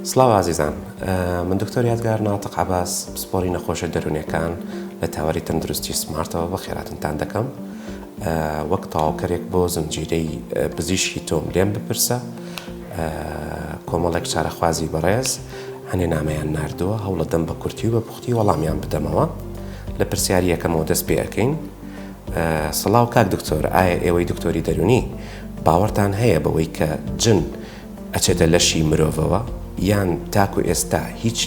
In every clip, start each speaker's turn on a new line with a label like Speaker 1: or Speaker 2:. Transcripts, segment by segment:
Speaker 1: سڵاو ئازیزان من دکتۆر یادگار ناتق عباس پسپۆری نەخۆشە دەرونێکان لە تاوەری تەندروستی سمارتەوە بە خێراتنتان دەکەم وەک تاوکەرێک بۆ زنجیرەی پزیشکی تۆم لێم بپرسە کۆمەڵێک چارەخوازی بەڕێز هەنێ نامەیان نردووە هەوڵە دەم بە کورتی و بە پوختی وەڵامیان بدەمەوە لە پرسیاریەکەمەوە دەست پێەکەین سڵاو کاک دکتۆر ئایا ئێوەی دکتۆری دەرونی باوەڕتان هەیە بەوەی کە جن ئەچێتە لەشی مرۆڤەوە یان تاکو ئێستا هیچ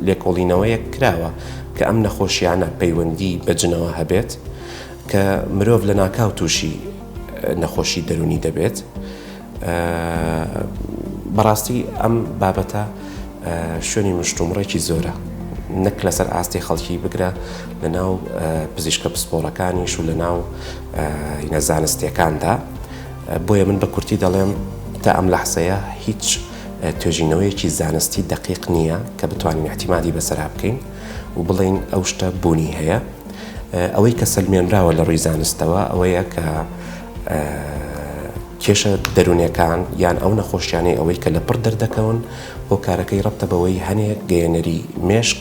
Speaker 1: لێکۆڵینەوەیەک کراوە کە ئەم نەخۆشیانە پەیوەندی بە جنەوە هەبێت کە مرۆڤ لە ناکاو تووشی نەخۆشی دەرونی دەبێت بەڕاستی ئەم بابەتە شوێنی مشتومڕێکی زۆرە نەک لەسەر ئاستی خەڵکی بگرە لە ناو پزیشکە پسپۆڕەکانیش و لە ناو نەزانستیەکاندا بۆیە من بە کورتی دەڵێم تا ئەم لەحزەیە هیچ توێژینەوەیەکی زانستی دەقیق نییە کە بتوانین احتیمادی بەسەرا بکەین و بڵین ئەو شتە بوونی هەیە ئەوەی کە سەلمێنراوە لە ڕووی زانستەوە ئەوەیە کە کێشە دەروونەکان یان ئەو نەخۆشیانەی ئەوەی کە لە پڕ دەردەکەون هۆکارەکەی ڕەتە بەوەی هەنێک گەیەنەری مێشک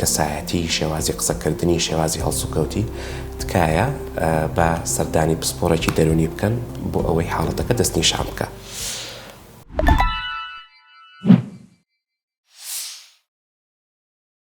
Speaker 1: کەسایەتی، شێوازی قسەکردنی، شێوازی هەڵسوکەوتی، تکایە با سەردانی پسپۆڕێکی دەروونی بکەن بۆ ئەوەی حاڵەتەکە دەستنیشان بکات.